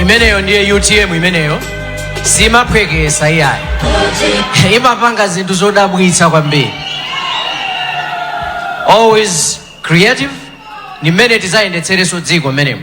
imeneyo ndiye utm imeneyo simaphwekesa iyayi imapanga zinthu zodabwitsa kwambiri always creative ndi mmene tizayendetsereso dziko mmenemo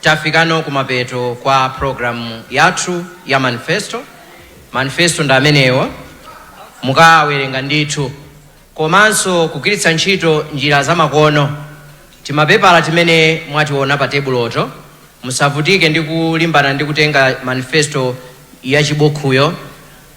Tafikano kumapeto kwa program yathu ya manifesto. Manifesto ndi amenewa mukawerenga ndithu, komanso kugwiritsa ntchito njira zamakono. Timapepala timene mwationa pa tebuloto, musavutike ndi kulimbana ndi kutenga manifesto yachibukhuyo.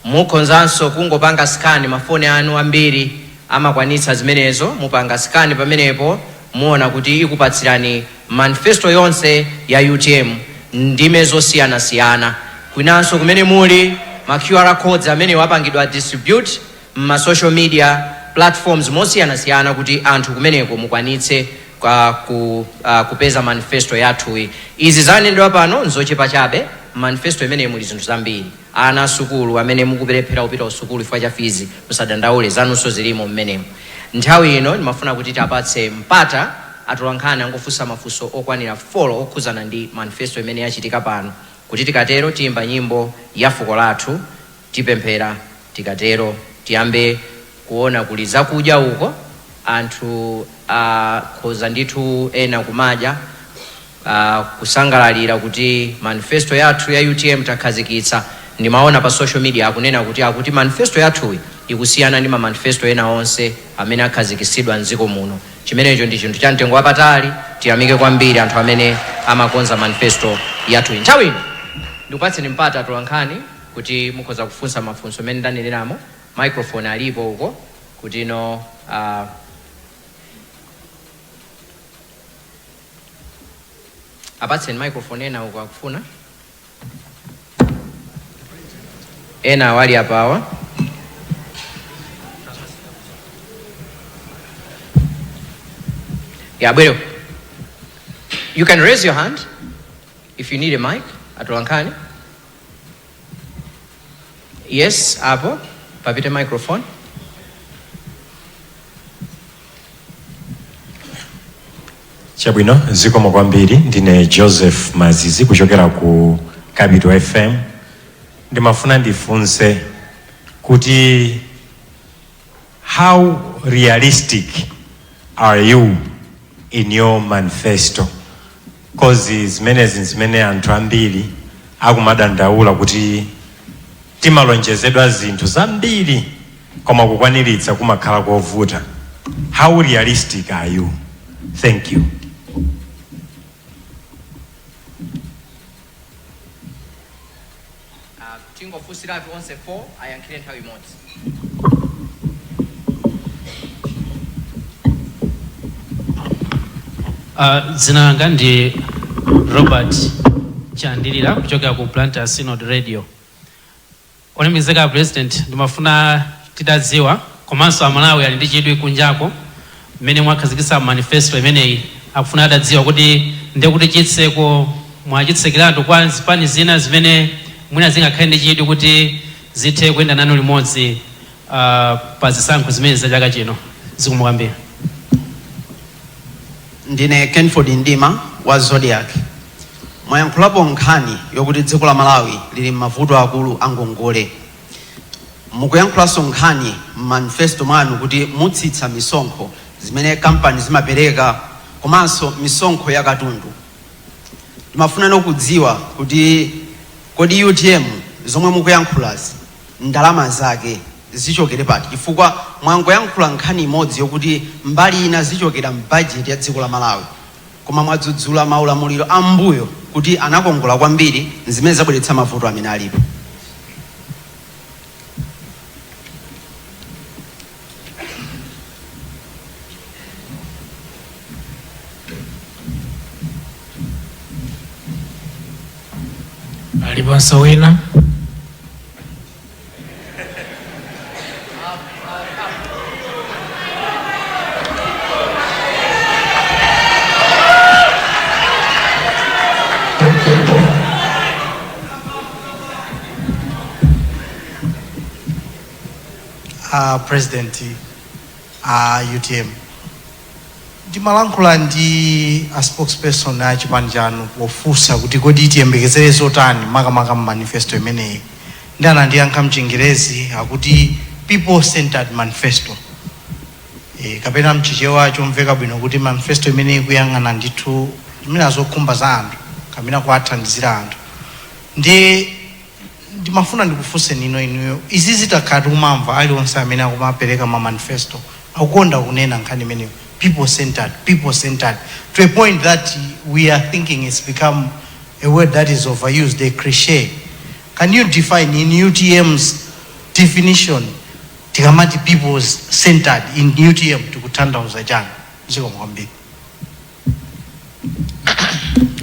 Mukhonzanso kungopanga scan ma phone anu ambiri amakwanitsa zimenezo mupanga scan pamenepo muona kuti ikupatsirani manifesto yonse ya utm ndime zosiyanasiyana kwinanso kumene muli ma Qr codes amenewa apangidwa distribute mma social media platforms mosiyanasiyana kuti anthu kumeneko mukwanitse kupeza manifesto yathuyi izi zanenedwa pano nzochepa chabe mmanifesto imeneyi muli zinthu zambiri. Ana asukulu amene mukuperewera kupita kusukulu chifukwa cha fizi musadandaule zanunso zilimo mmenemo. Nthawi ino ndimafuna kuti tiapatse mpata atolankhani angofunsa mafunso okwanira folo okhuzana ndi manifesto imene yachitika pano kuti tikatero tiimba nyimbo yafuko lathu tipemphera tikatero tiyambe kuona kuli zakudya uko anthu akhoza ndithu ena kumadya kusangalalira kuti manifesto yathu ya utm takhazikitsa, ndimaona pa social media akunena kuti akuti manifesto yathuyi ikusiyana ndi ma manifesto ena onse amene akhazikitsidwa m'dziko muno. Chimenecho ndi chinthu cha mtengo wapatali. Tiyamike kwambiri anthu amene amakonza manifesto yathuyi. Nthawi ino ndikupatseni mpata atolankhani kuti mukhoza kufunsa mafunso mmene ndaneneramo. Microphone alipo uko kuti no ah, apatseni microphone ena uko akufuna enawo ali apawa yeah bwero you can raise your hand if you need a mic atolankhani Yes, apo papite microphone. Chabwino zikomo kwambiri ndine Joseph Mazizi kuchokera ku Capital FM ndimafuna ndifunse kuti How realistic are you in your manifesto? Cause zimenezi nzimene anthu ambiri akumadandaula kuti timalonjezedwa zinthu zambiri koma kukwaniritsa kumakhala kovuta. How realistic are you? Thank you. Tingofunsiratu onse 4 ayankhire nthawi imodzi. Uh, dzina langa ndi Robert Chandilira kuchokera ku Blantyre Synod Radio. Olemekezeka President, ndimafuna titadziwa komanso Amalawi ali ndi chidwi kunjako mmene mwakhazikitsa manifesto imeneyi akufuna atadziwa kuti ndekuti chitseko mwachitsekiratu kwa zipani zina zimene mwina zingakhale ndi chidwi kuti zithe kuyenda nanu limodzi uh, pa zisankho zimene za chaka chino zikomo kwambiri ndine kenford ndima wa Zodiak mwayankhulapo nkhani yokuti dziko la malawi lili m'mavuto akulu a ngongole Mukuyankhulanso nkhani m'manifesto mwanu kuti mutsitsa misonkho zimene kampani zimapereka komanso misonkho ya katundu. Timafunanso kudziwa kuti kodi utm zomwe mukuyankhulazi ndalama zake zichokere pati chifukwa mwangoyankhula nkhani imodzi yokuti mbali ina zichokera m'bajeti ya dziko la Malawi. Koma mwadzudzula maulamuliro a m'mbuyo kuti anakongola kwambiri zimene zabweretsa mavuto amene alipo. Aliponso wina? a president a utm Ndimalankhula ndi a spokesperson a chipani chanu pofunsa kuti kodi tiyembekezere zotani makamaka mu manifesto imeneyi ndi anandiyankha mchingerezi akuti people centred manifesto e, kapena mchichewa chomveka bwino kuti manifesto imene ikuyang'ana ndithu zimene zokhumba za anthu kapena kuwathandizira anthu ndi ndimafuna ndikufunseni ino inuyo izi zitakhala tikumamva alionse mmene akumapereka ma manifesto akukonda kunena nkhani imeneyo people centered people centered to a point that we are thinking it's become a word that is overused a cliche can you define in utm's definition tikamati people centered in utm tikutanthauza chani zikomo kwambiri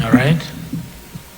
All right.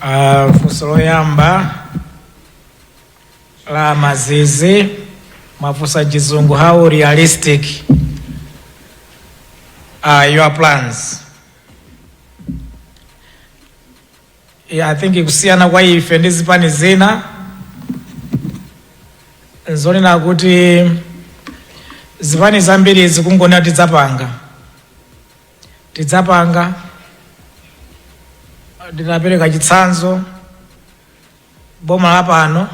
Ah, funso loyamba la mazizi mwafunsa chizungu how realistic are your plans yeah, i think kusiyana kwa ife ndi zipani zina nzonena kuti zipani zambiri zikungonena tidzapanga tidzapanga ndinapereka chitsanzo boma la pano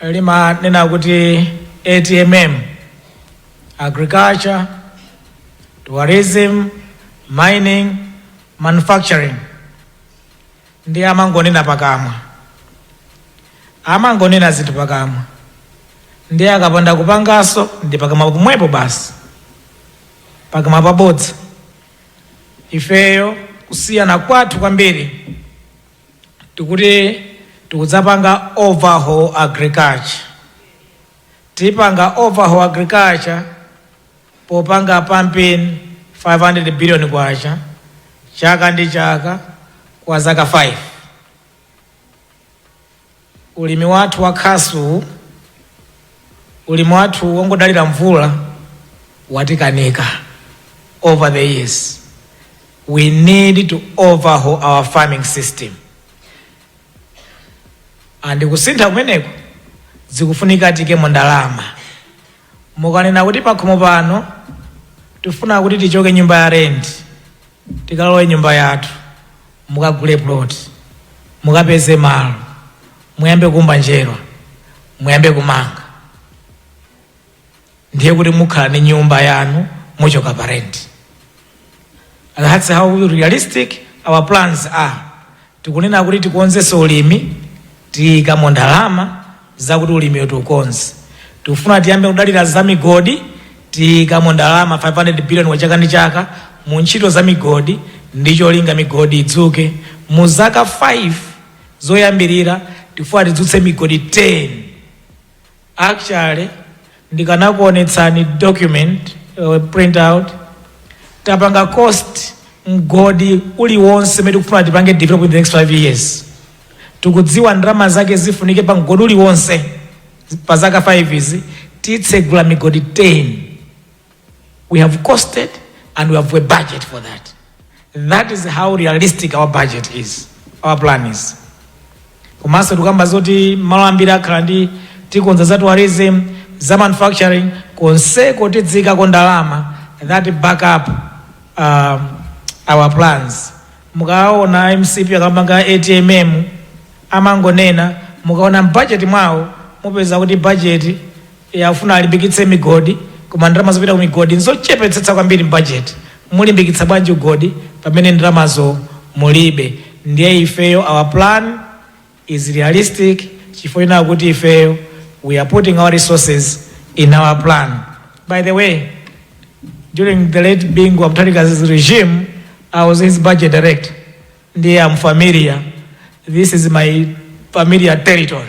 limanena kuti atmm agriculture tourism mining manufacturing ndi amangonena pakamwa amangonena zinthu pakamwa ndiye akapanda kupanganso ndi pakamwa pomwepo basi pakamwa pa bodza. Ifeyo kusiyana kwathu kwambiri tikuti tikudzapanga overhaul agriculture. Tipanga overhaul agriculture popanga pumping 500 billion kwacha chaka ndi chaka kwa zaka 5. Ulimi wathu wa khasu uwu, ulimi wathu wongodalira mvula watikanika over the years. We need to overhaul our farming system. And kusintha kumeneko zikufunika tiikemo ndalama. Mukanena kuti pakhomo pano tifuna kuti tichoke nyumba ya rent tikalowe nyumba yathu, mukagule plot, mukapeze malo, muyambe kuumba njerwa, muyambe kumanga, ndiye kuti mukhala ni nyumba yanu muchoka pa rent. And that's how realistic our plans are. Tikunena kuti tikonzenso ulimi, tiikamo ndalama zakuti ulimiwo tiukonze. Tikufuna tiyambe kudalira za migodi, tiikamo ndalama 500 billion kwacha chaka ndi chaka mu ntchito za migodi ndi cholinga migodi idzuke. Mu zaka 5 zoyambirira tikufuna tidzutse migodi 10. Actually ndikanakuonetsani document print out tapanga cost mgodi uliwonse umene tikufuna tipange develop in the next 5 years tikudziwa ndalama zake zifunike pa mgodi uliwonse pa zaka 5 izi titsegula migodi 10 We have costed and we have a budget for that. That is how realistic our budget is, our plan is. komanso tikukamba zoti malo ambiri akhala ndi tikonza za tourism za manufacturing konseko tidzikako ndalama that back up um, our plans mukaona mcp akapanga atm amangonena mukaona mbajeti mwawo mupeza kuti bajeti Akufuna alimbikitse migodi koma ndalama zopita ku migodi nzochepetsetsa kwambiri mbajeti. Mulimbikitsa bwanji ugodi pamene ndalamazo mulibe? Ndiye ifeyo our plan is realistic chifukwa chonena kuti ifeyo we are putting our resources in our plan. By the way, during the late Bingu Mutharika's regime, I was his budget director. Ndiye I'm familiar. This is my familiar territory.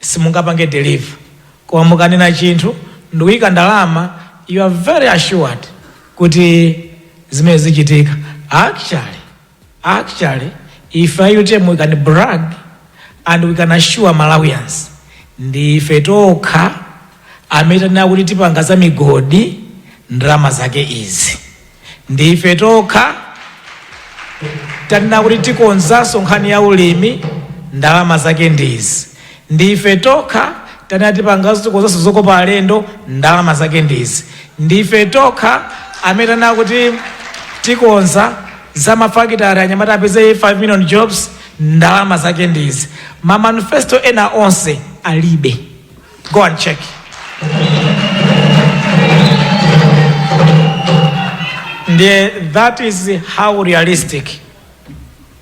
simungapange deliver koma mukanena chinthu ndikuika ndalama you are very assured kuti zimene zichitika actually actually ife a utm we can brag and we can assure malawians ndi ife tokha amene tanena kuti tipanga za migodi ndalama zake izi ndi ife tokha tanena kuti tikonzanso nkhani ya ulimi ndalama zake ndizi ndi ife tokha tanena tipanganso tikonzanso zokopa alendo ndalama zake ndizi ndi ife tokha amene tanena kuti tikonza za mafakitari anyamata apeze 5 million jobs ndalama zake ndizi mamanifesto ena onse alibe Go and check. Ndiye, that is how realistic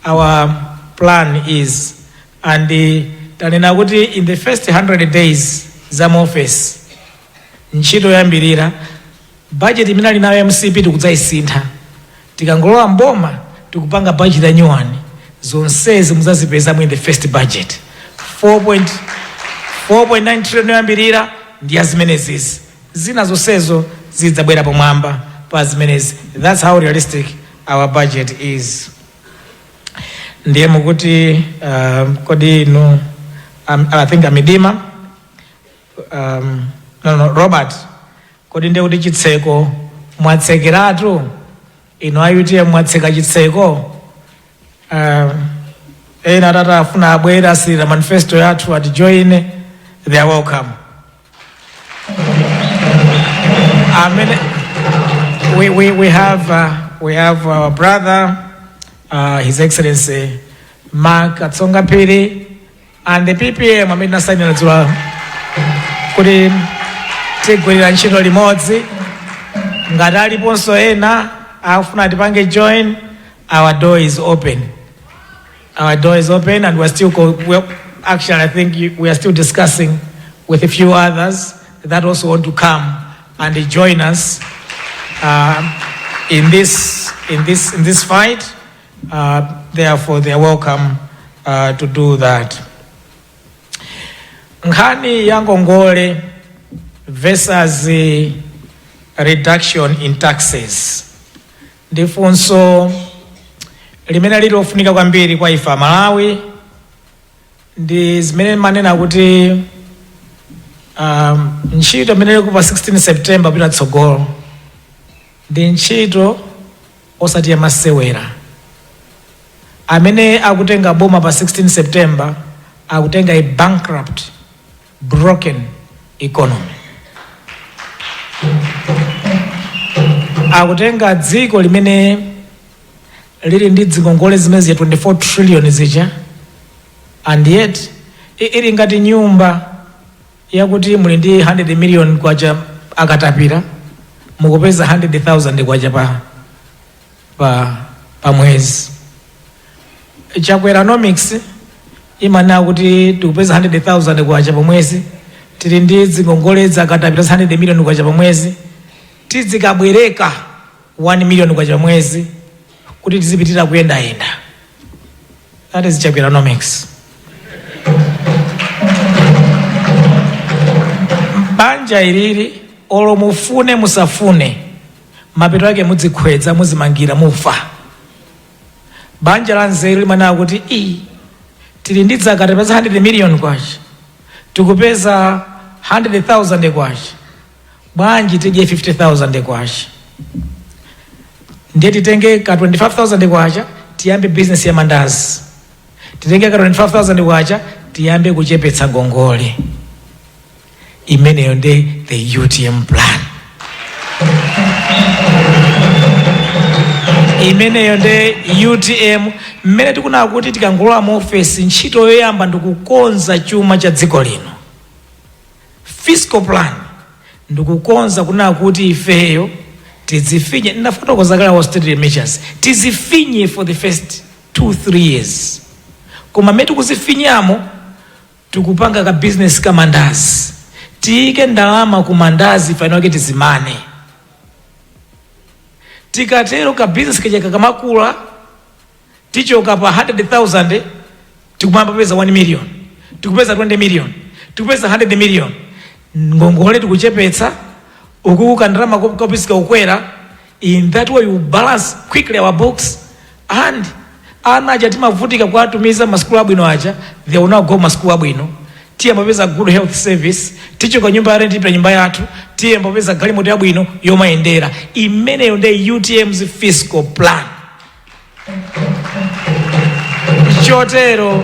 our plan is and tanena kuti in the first 100 days za mu office ntchito yoyambirira Budget imene ali nayo a mcp tikudzaisintha tikangolowa m'boma tikupanga budget ya new one zonsezi muzazipeza mu in the first budget 4.9 trillion yoyambirira ndi ya zimenezizi zina zonsezo zidzabwera pomwamba pa zimenezi that's how realistic our budget is ndiye mukuti um, kodi no um, i think amidima Um, no, no, Robert, kodi ndiye kuti chitseko mwatsekeratu inu a UTM mwatseka chitseko um, ena atati afuna abwera asirira manifesto yathu ati join they are welcome amene we, we, we have uh, we have our brother uh, his excellency mark katsonga phiri and the PPM amene tinasainira dzulo kuti tigwirira ntchito limodzi ngati aliponso ena akufuna tipange join our door is open our door is open and we're still co- we're, actually i think you, we are still discussing with a few others that also want to come and join us uh, in this in this in this fight Uh, therefore they are welcome uh, to do that. Nkhani ya ngongole versus eh, reduction in taxes ndi funso limene lili lofunika kwambiri kwa ife Amalawi ndi zimene timanena kuti um, ntchito imene ilipo pa 16 September kupita tsogolo ndi ntchito osati yamasewera. Amene akutenga boma pa 16 September akutenga a bankrupt, broken economy. Akutenga dziko limene lili ndi dzingongole zimene zija 24 trillion zija and yet i- ili ngati nyumba yakuti muli ndi 100 million kwacha akatapira mukupeza 100,000 kwacha pa pa pa mwezi Chakweranomics imanena kuti tikupeza 100,000 kwacha pa mwezi tili ndi dzingongole dza akatapira 100 million kwacha pa mwezi tidzikabwereka 1 million kwacha pa mwezi kuti tizipitira kuyendayenda that is chakweranomics banja ilili, olo mufune musafune mapeto ake mudzikhwedza muzimangira mufa banja la nzeru limanena kuti i tili ndi dzakatapira 100 million kwacha tikupeza 100,000 kwacha bwanji tidye 50000 kwacha ndiye titenge ka 25000 kwacha tiyambe business ya mandazi titenge ka 25000 kwacha tiyambe kuchepetsa ngongole imeneyo ndi the utm plan imeneyo nde utm mmene tikunena kuti tikangolowa mu ofesi ntchito yoyamba ndikukonza chuma cha dziko lino fiscal plan ndikukonza kunena kuti ifeyo tizifinye ndinafotokoza kale austerity measures tizifinye for the first 2 3 years koma mmene tikuzifinyamo tikupanga ka business ka mandazi tiyike ndalama ku mandazi ife enake tizimane tikatero ka business kaja kakamakula tichoka pa 100,000 tikuyamba kupeza 1 million tikupeza 20 million tikupeza 100 million ngongole tikuchepetsa ukukuka ndalama ko- kopisika ukwera in that way you balance quickly our books and ana aja timavutika kuwatumiza masukulu abwino aja they will now go masukulu abwino tiyamba kupeza good health service tichoka nyumba ya rent tipita nyumba yathu tiyamba kupeza galimoto yabwino yomayendera, imeneyo nde utm's fiscal plan chotero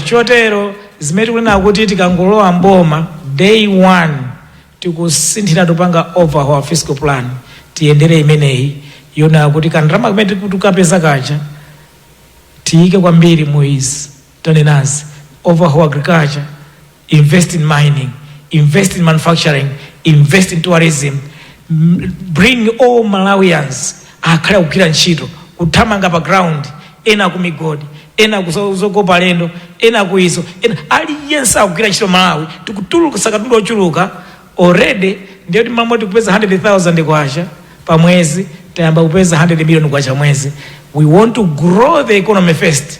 chotero zimene tikunena kuti tikangolowa mboma day one tikusinthira tikupanga overhaul fiscal plan tiyendere imeneyi yoona kuti kandalama kamene tikapeza kaja tiyike kwambiri mu izi tanenazi, overhaul agriculture, invest in mining, invest in manufacturing, invest in tourism, m- bring all Malawians akhale akugwira ntchito, kuthamanga pa ground, ena ku migodi, ena kuzokopa alendo, ena ku izo, ena aliyense akugwira ntchito Malawi, tikutulutsa katundu ochuluka already ndiye kuti mmene tikupeza 100,000 kwacha pa mwezi tayamba kupeza 100 million kwacha pamwezi we want to grow the economy first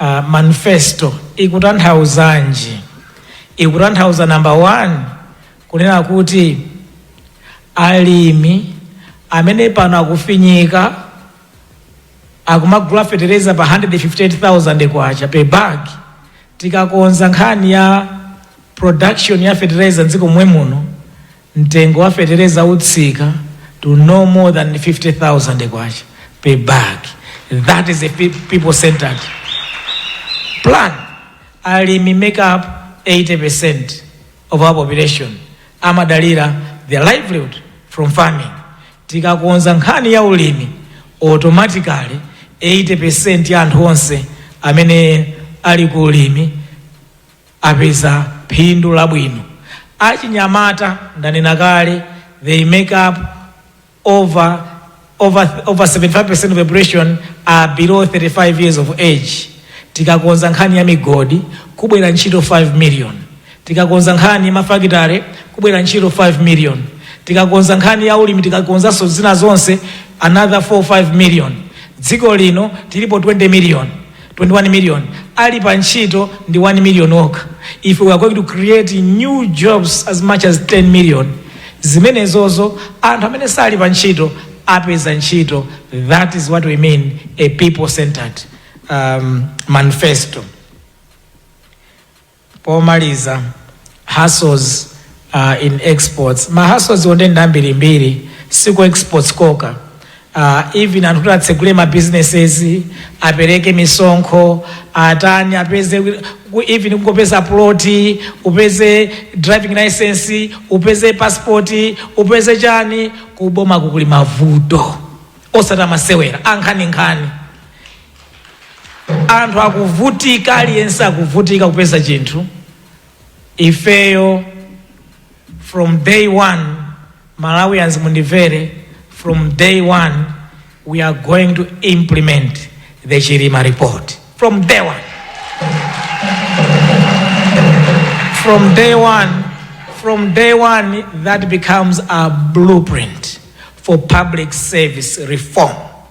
Uh, manifesto ikutanthauzanji? Ikutanthauza number one kunena kuti alimi amene pano akufinyika akumagula fetereza pa 158,000 kwacha per bag, tikakonza nkhani ya production ya fetereza mdziko momwe muno Mtengo wa fetereza utsika to no more than K50,000 per bag. That is a people centered plan. Alimi make up 80% of our population amadalira their livelihood from farming. Tikakonza nkhani ya ulimi automatically 80% ya anthu onse amene ali ku ulimi apeza phindu labwino. Achinyamata, ndanena kale, they make up over, over, over 75% of the population are below 35 years of age. Tikakonza nkhani ya migodi kubwera ntchito 5 million. Tikakonza nkhani ya mafakitare kubwera ntchito 5 million. Tikakonza nkhani ya ulimi tikakonzanso zina zonse another 4 5 million. Dziko lino tilipo 20 million. 21 million Ali pa ntchito ndi 1 million okha if we are going to create new jobs as much as 10 million zimenezo anthu amene sali pa ntchito apeza ntchito that is what we mean a people centered um, manifesto Pomaliza, hassles uh, in exports ma hassles wo nde ndi ambirimbiri siku exports kokha uh, even anthu kuti atsegule ma businesses apereke misonkho atani apeze ku- even kungopeza ploti upeze driving license upeze passport upeze chani kuboma kukuli mavuto osati masewera ankhaninkhani anthu akuvutika aliyense akuvutika kupeza chinthu ifeyo from day one malawians mundivere from day one we are going to implement the chilima report from day one from day one from day one that becomes a blueprint for public service reform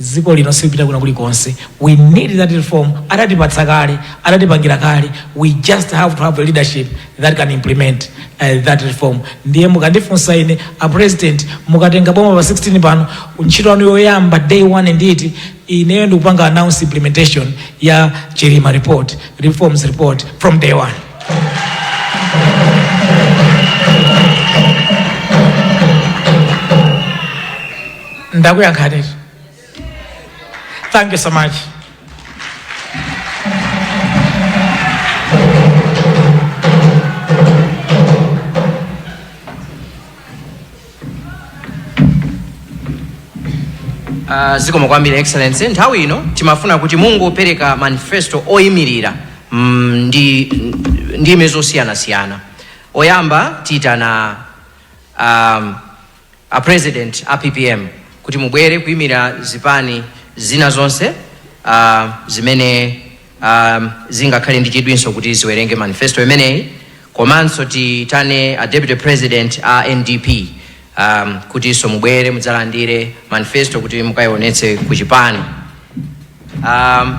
dziko lino silipita kwina kulikonse we need that reform adatipatsa kale adatipangira kale we just have to have a leadership that can implement uh, that reform ndiye mukandifunsa ine a president mukatenga boma pa 16 pano ntchito yanu yoyamba day one nditi ineyo ndikupanga announce implementation ya chilima report reforms report from day one ndakuyankhanitu thank you so much Uh, zikomo kwambiri excellency nthawi ino timafuna kuti mungopereka manifesto oyimirira mm, ndi ndime zosiyanasiyana oyamba tiitana um, a president a ppm kuti mubwere kuimira zipani zina zonse uh, zimene um, zingakhale ndi chidwinso kuti ziwerenge manifesto imeneyi komanso tiitane a deputy president a ndp um, kutinso mubwere mudzalandire manifesto kuti mukayionetse ku chipani um,